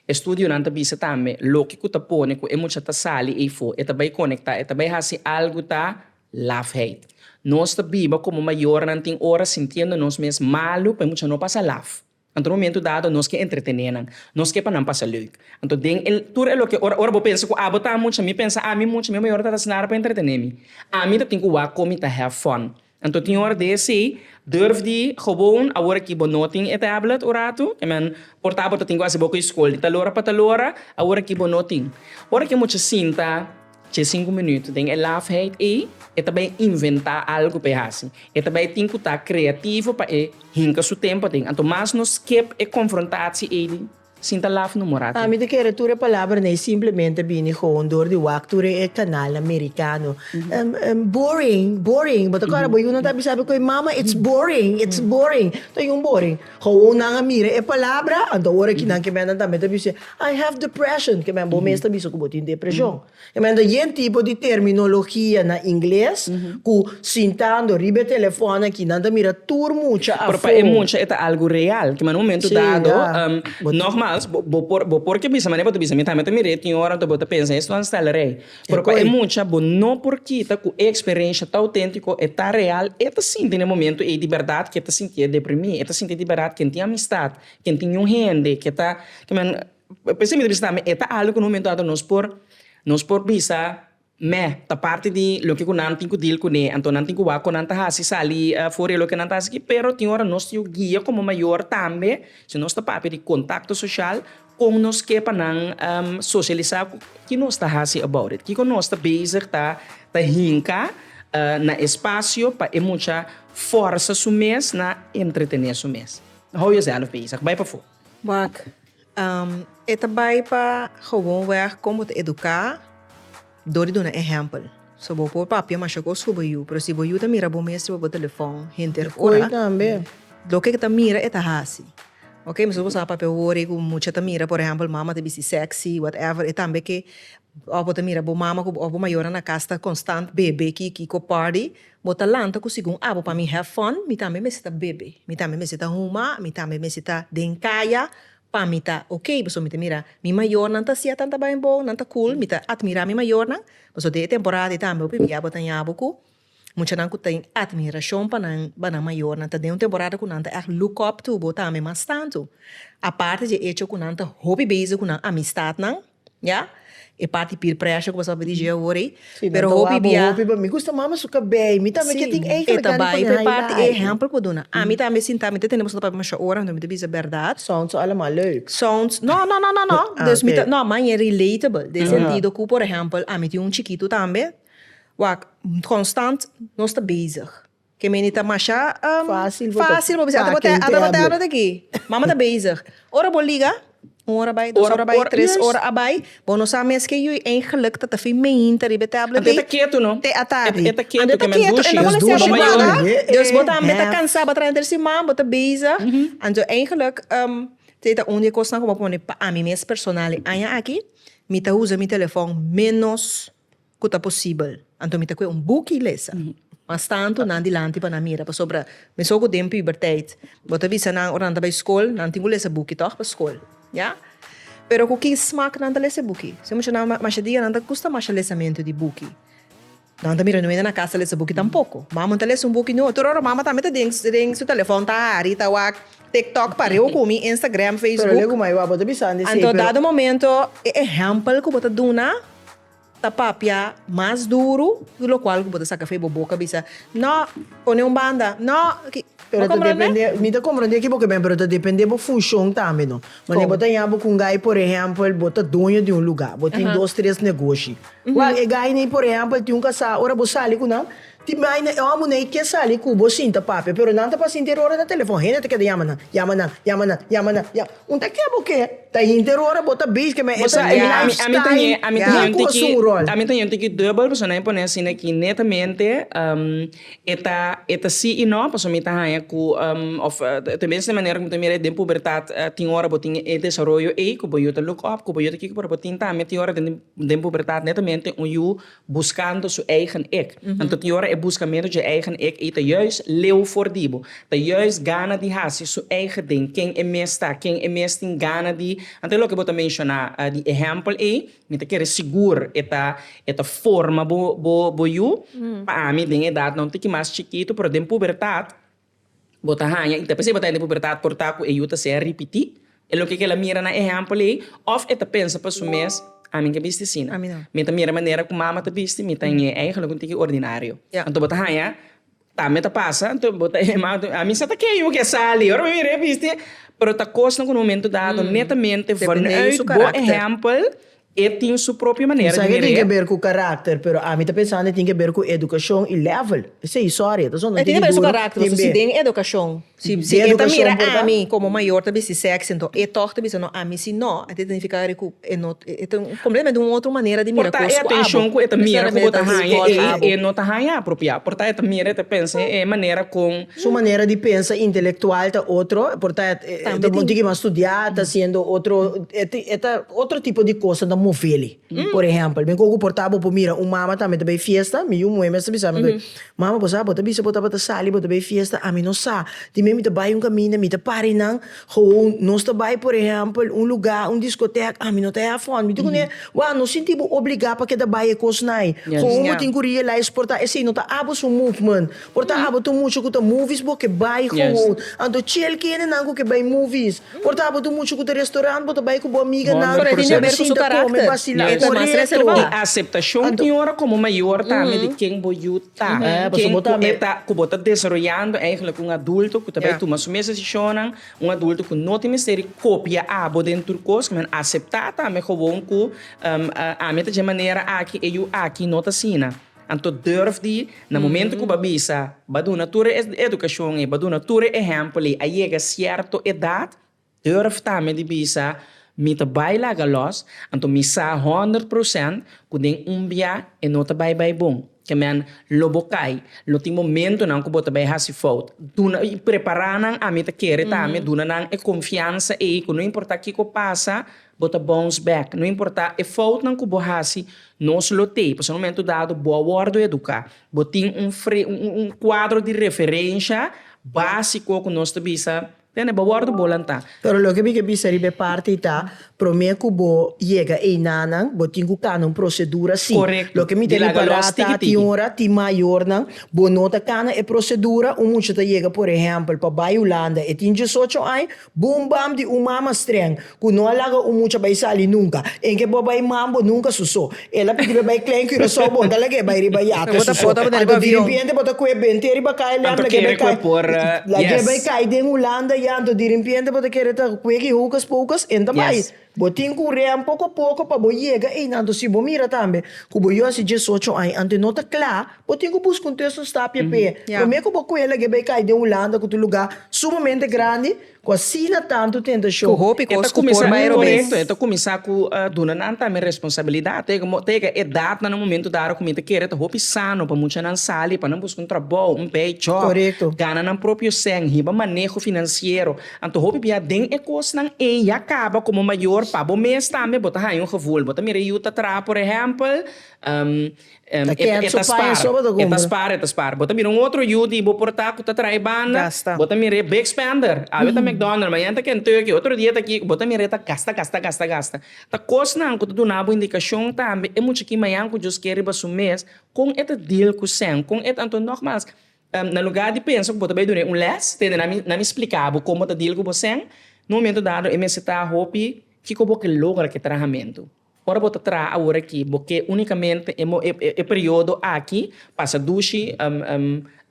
[SPEAKER 1] E studionan ta bisa tambe loke ku ta pone ku e mucha ta sali eyfo, e ta bai konektá, e ta bai hasi algu ta lafheid. Nos ta biba komo mayornan tin ora sintiendo nos mes malu pa e mucha no pasa laf. Anto momentu dado nos ke entretené nan, nos ke pa nan pasa leuk. Anto den e tur e loke ora ora bo pensa ku abo ta mucha, mi pensa ami mucha, mi mayornan ta hasi nada pa entretené mi. Ami ta tin ku wak komi ta have fun. Anto tin ora di esei, durf di gewoon, awor aki bo no tin e tablet un ratu, e men por ta bo ta tin ku hasi bo ku e skol di talora pa talora, awor aki bo no tin. Ora ki e mucha sinta dje sinku minuut den e lafheid ei, e ta bai inventá algu pa e hasi. E ta bai tin ku ta kreativo pa e hinka su tempo den. Anto mas nos skep e konfrontatsi ei di. Sin ta laf no mora aki. Mi ta kere tur e palabra nei simplemente a bini gewoon dor di wak tur e kanal amerikano. Boring, boring. Bo ta kòrda bo yunan ta bisa mi koe, Mama, it's boring, it's boring. Ta yun boring. Gewoon nan a mira e palabra, anto ora ki nan ke menen tambe ta bisa, I have depression, ke men bo mes ta bisa ku bo tin depreshon. E manda yen tipo di terminologia na ingles cu sintando riba e telefon aki nan ta mira tur mucha afo. Pero pa e mucha e ta algo real. Ki man un momento dado, nogmaals, bo por bo por ke bisa mane bo ta bisa mi tambe ta mir'é tin ora anto bo ta pensa esto nan stel rei. Pero pa e mucha bo no por kita cu e experensha ta autentico, e ta real, e ta sinti n'e momento ey di berdad ke ta sintié deprimí, e ta sinti di berdad ken tin amistad, ken tin un hende ke ta kiman. P'esei mi ta bisa tambe e ta algu ku un momentu anto nos por nos por bisa meh ta parti di loke ku nan tin ku dil kuné, anto nan tin ku wak kon nan ta hasi sali for di loke nan ta hasi aki, pero tin ora nos ta yu guia komo mayor tambe si nos ta papia di kontakto soshal kon nos ke pa nan soshalisa ku ki nos ta hasi about it, kiko nos ta bezig ta ta hinka na e spasio pa e mucha forsa su mes na entretene su mes. Hou yoself bezig, bai pafó. Wak, E ta bai pa gewoon wèg kon bo ta eduká dor di duna ehèmpel. So bo por papia masha kos ku bo yu, pero si bo yu ta mira bo mes riba bo telefòn henter ora, loke e ta mira e ta hasi. Oke, mesora bo sa papia wor ei ku mucha ta mira, por ehèmpel mama ta bisti sèksi, whatever, e tambe ke òf bo ta mira bo mama òf bo mayonan na kas ta konstant bebe ki ki ko pòdi. Bo ta lanta ku segun abo pa mi have fun, mi tambe mester ta bebe, mi tambe mester ta huma, mi tambe mester ta den kaya pa mi ta ok, pasobra mi ta mira mi mayornan ta hacia tanta bainbou, nan ta cool, mi ta admira mi mayornan, pasobra den e temporada ei tambe hopi bia bo ta haña bo ku muchanan ku tin admiracion pa nan pa nan mayornan, ta den un temporada ku nan ta echt look up to bo tambe mas tantu, aparte dje hecho ku nan ta hopi bezig ku nan amistadnan. Ya e parti peer pressure ku boso ta digi awor ei pero hopi bia mi gusta mama su kabei mi tambe ke tin ei ta bai ta e parti ei ehempel ku duna ami tambe sinta mi ta tende boso ta papia masha ora anto mi ta bisa berdad sounds su alema leuk sounds no no no no dus mi ta no mas ña relatable den sentido ku por ehempel ami tin un chikitu tambe wak konstant nos ta bezig. Kemeni ta masha fasil bo bisa ata bo ta ata bo ta habla taki mama ta bezig ora bo liga un ora bai dos ora bai tres ora a bai bo no sa mes ke yu eigenlik ta ta fin meinta riba e tablet ei te atardi ante ta ketu e no bo lesiabu bo wanga dus bo tambe ta kansa bo a traha den siman bo ta bezig anto eigenlik te ta un di e kosnan ku bo a pone pa ami mes personal e aña aki mi ta usa mi telefon menos. ku ta posibel. Anto mi ta kue un buki i lesa. Mas tantu nan dilanti pa nan mira. Pasobra mesun ku den puberteit bo ta bisa nan ora nan ta bai skol, nan tin ku lesa buki tòg pa skol. Ya. Pero ku ki smak nan ta lesa e buki? Esei mucha nan mashadiga nan ta kusta masha lesamentu di buki. Nan ta mira nan menda na kas ta lesa buki tampoko. Mama ta lesa un buki nua. Tur ora mama tambe ta den den su telefòn ta hari, ta wak TikTok pariu ku mi, Instagram, Facebook. Pero lei ku mai bo a bo ta bisa di esei pero. Anto dado momento e ehèmpel ku bo ta duna. ta papia mas duru y locual cu bo ta saca fe bo boca bisa no pone un banda no ki. Pero ta depende, mi ta comprende aki bo ke ben pero ta depende bo funcion tambe no, wanneer bo ta yaha bo cu un guy por ehempel bo ta doño di un lugar bo tin dos tres negoshi, well e guy ni por ehempel tin un casa ora bo sali cu nan Tin baina e omo ney ke sali ku bo sinta papia pero nan ta pasinti e rora na telefon hende ta keda yama nan yama nan yama nan yama nan ya un ta ke bo ke ta hinti e rora bo ta base ke me e ta e life style nan ku asun un rol. Ami ta yente taki dubel pasobra nan a pone asina aki netamente e ta e ta si i no pasobra mi ta haña ku of ta mester manera ku mi ta mira den pubertat tin ora bo tin e desaroyo ey ku bo yu ta look up ku bo yu ta kiko pero bo tin tambe tin ora den pubertat netamente un yu Buscando su eigen ik. Anto tin ora e buscamento dje eigen ik ei ta juist leu for di bo. Ta juist gana di haci su eigen ding, ken e mes ta, ken e mes tin gana di, anto e loke bo ta menciona di ehempel ei, mi ta kere sigur e ta e ta forma bo bo bo yu. Pa ami den edad, no un tiki mas chikito, pero den pubertad, bo ta haña i ta p'esei bo ta hende pubertat por ta ku e yu ta sea ripití e loke ku el a mira na ehèmpel ei òf e ta pensa pa su mes, Ami ke bisti asina. Mi ta mira e manera ku mama ta bisti, mi ta nge ei, halo ku ntiki ordinario. Anto bo ta haña tambe ta pasa, anto bo ta hima, ami sa ta ke yu ke sali, ora mi mira e bisti, pero ta kos na ku na un momentu dado netamente vanuit bo ehèmpel E tin su propio manera di mira e. Tin sa ke tin ke ber ku karakter, pero ami ta pensando e tin ke ber ku edukashon i level. Esei historia ta sona tin di duru tin be. E tin ke ber su karakter pasobra si den edukashon, si e ta mira ami komo mayor ta bisti sexy enton e tog ta bisa no ami si no a ta significa ari ku e no e ta completamente un otro manera di mira kos ku abo. Por ta e atenshon ku e ta mira ku bo ta haña ei e no ta haña apropia. Por ta e ta mira e ta pensa e manera kon. Su manera di pensa intelectual ta otro, por ta ta bon tiki mas studia, ta hasiendo otro, e ta otro tipo di cos ta moveli. Por ehempel, mi con cu por ta bo por mira un mama tambe ta bay fiesta, mi yu muhé mes ta bisa mi cu, mama bo sa bo ta bisa bo tabata sali bo ta bay fiesta, ami no sa, tin men mi ta bay un caminda mi ta pari nan, gewoon nos ta bay por ehempel un lugar, un discotec, ami no ta he afon, mi tin cu ne, wou no sinti bo obliga pa keda bay e cos nai, gewoon bo tin cu realize por ta esey no ta abo su movement. Por ta abo tur mucha cu ta movies bo ke bai gewoon. Anto chel kende nan cu ke bai movies. Por ta abo tur mucha cu ta restaurant bo ta bai cu bo amiga nan bo ta sinta come bacila corecto. Y aceptacion tin ora como mayor tambe di ken bo yu ta. Ken cu e ta cu bo ta desaroyando eigenlijk un adulto cu ta bai tuma su mes decisionnan. Un adulto cu no tin mester di copia abo den tur cos men acepta tambe gewoon cu ami ta dje manera aki e yu aki no ta asina. Anto durf di, na momento ku bo bisa, bo duna tur e edukashon ei, bo duna tur e ehèmpel ei, a yega sierto edat, durf tambe di bisa, Mi ta bai laga lòs, anto mi sa honderd prosènt ku den un bia e no ta bai bai bon. Ke men, lo bo kai, lo tin momentunan ku bo ta bai hasi fout. Duna, prepará nan, ami ta kere tambe duna nan e konfiansa ei ku no importá kiko pasa, Bo ta bounce back. No importá e foutnan ku bo hasi, nos lo tei. Pasobra un momentu dado bo a wòrdu eduká. Bo tin un un kuadro di referensha básiko ku nos ta bisa, tende, bo a wòrdu bo lantá. Pero loke mi ke bisa riba e parti ta, promé ku bo yega einanan, bo tin ku kana un prosedura, sí. Loke mi ta ripará ta, tin ora tin mayornan bo no ta kana e prosedura. Un mucha ta yega, por ehèmpel, pa bai Hulanda. E tin diesocho aña, Boom bam di un mama streng cu no a laga un mucha bay sali nunca. Een ke bo bay man bo nunca su so. Ela pidibe bay clen Curaçao bo ta lag'e bay riba yate su so. Anto di rimpiente bo ta cue bente riba KLM lag'e bay cai lag'e bay cai den Hulanda ya anto di rimpiente bo ta kere ta cue ki houcas poucas en ta bay. Bo tin cu rea poco poco pa bo yega ey nanto si bo mira tambe cu bo yosi diesocho aña ante no ta cla bo tin cu busca un test un stapia p'e prome cu bo cuela ge bay cay den Hulanda cu tu lugar sumamente grandi cu asina tanto tentacion e ta cuminsa e correcto e ta cuminsa cu duna nan tambe responsabilidad ta yega edad na nan momento dado cu mi ta kere ta hopi sano pa mucha nan sali pa nan busca un trabou un bay job gana nan propio seng hiba maneho financiero. Anto hopi bia den e kosnan ei ya kaba komo mayor pa bo mes tambe bo ta haña un gevoel bo ta mira yu ta traha por ehempel e ta spaar e ta spaar e ta spaar bo ta mira un otro yu di bo por ta ku ta traha e banda bo ta mira e big spender awe ta McDonald mañana ta Kentucky otro dia ta kiko bo ta mira e ta gasta gasta gasta gasta ta kosnan ku ta duna bo indikashon tambe e muchakin mañan ku djos ke riba su mes kon e ta deal kusen kon e ta anto nogmals Na lugá di pensa ku bo ta bai duna e un lès, tende na mi, na mi spliká bo kon bo ta dil ku bo sèn. Na un momentu dado e mester ta hopi kiko bo ke logra ku e trahamentu. Ora bo ta traha awor aki, bo ke únikamente e mo, e periodo aki pasa dushi,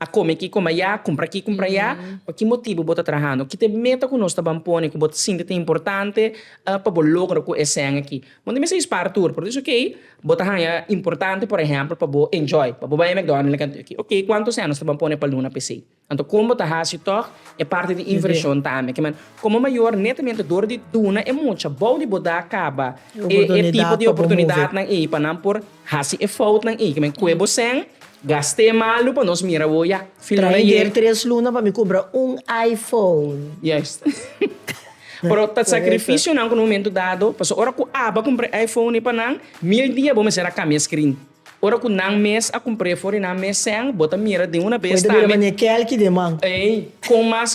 [SPEAKER 1] a kome aki, kome ayá, kumpra aki, kumpra ayá. Pa ki motibu bo ta trahando? Ki ta e meta ku nos taban pone ku bo ta sinti ta importante pa bo logra ku e sèn aki? Bo no mester spaar tur, por esun kei bo ta haña importante por ehempel pa bo enjoy, pa bo bai McDonald's na kantu aki. Oke, kuantu cènos ta ban pone pa luna p'esei? Anto kon bo ta hasi tòg e parti di invershon tambe? Kiman? Komo mayor, netamente dor di duna e mucha bou di bo da kaba e tipo di oportunidatnan ei pa nan por. Hasi e foutnan i ke men kue bo sèn, gast'é malu pa nos mira bo ya. Trahe dier tres luna pa mi kumpra un iPhone. Yes. Pero ta sakrifisionan ku na momentu dado, pasobra ora ku Abba kumpra e iPhone ei pa nan, mil dia bo mester a kambia e skrin. Ora ku nan mes a kumpr'é for di nan mes sèn, bo ta mira den una bes tambe. Bo ta bira mane Kelky den man. Ei, kon mas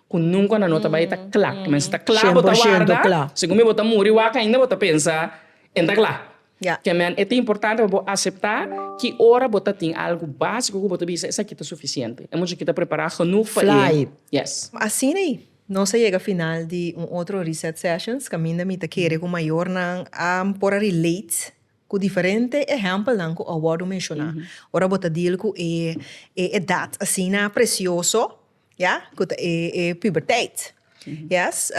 [SPEAKER 1] Cu nunca nan no ta bay ta cla. Mester ta cla bo ta warda. Segun mi bo ta muri wak ainda bo ta pensa en ta cla. Ke men e ta importante pa bo acepta ki ora bo ta tin algo basico cu bo ta bisa esaki ta suficiente. E mucha aki ta prepara genoeg pa e. Yes. Asina y nos a yega final di un otro Reset Sessions. Caminda mi ta kere cu mayornan a por a relate cu diferente ehempelnan cu a wordo menciona ora bo ta deal cu e edad asina precioso Ya, cu ta e e puberteit. Yes,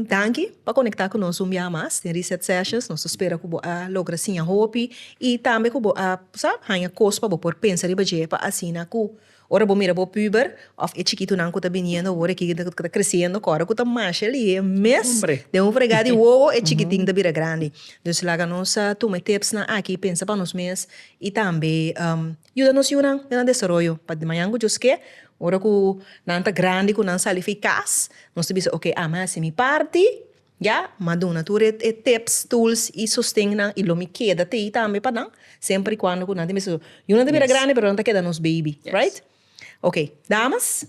[SPEAKER 1] danki pa conecta cu nos un bia mas den Reset Sessions. Nos ta spera cu bo a logra siña hopi y tambe cu bo a sa haña cos pa bo por pensa riba dje pa asina cu ora bo mira bo puber of e chikitunan cu ta biniendo awor aki cu ta creciendo cu ora cu ta masha lihe mes den un frega di wowo e chikitin ta bira grandi. Dus laga nos tuma e tipsnan aki y pensa pa nos mes y tambe Yuda nos yunan na nan desaroyo pa di mañan ku djos ke ora ku nan ta grandi ku nan sali fi kas nos ta bisa ok a mi a hasi mi parti ya mi a duna tur e tips, tools i sosten nan i lo mi keda ta ei tambe pa nan semper i kuando ku nan tin bisa yunan ta bira grandi pero nan ta keda nos baby right. Ok damas.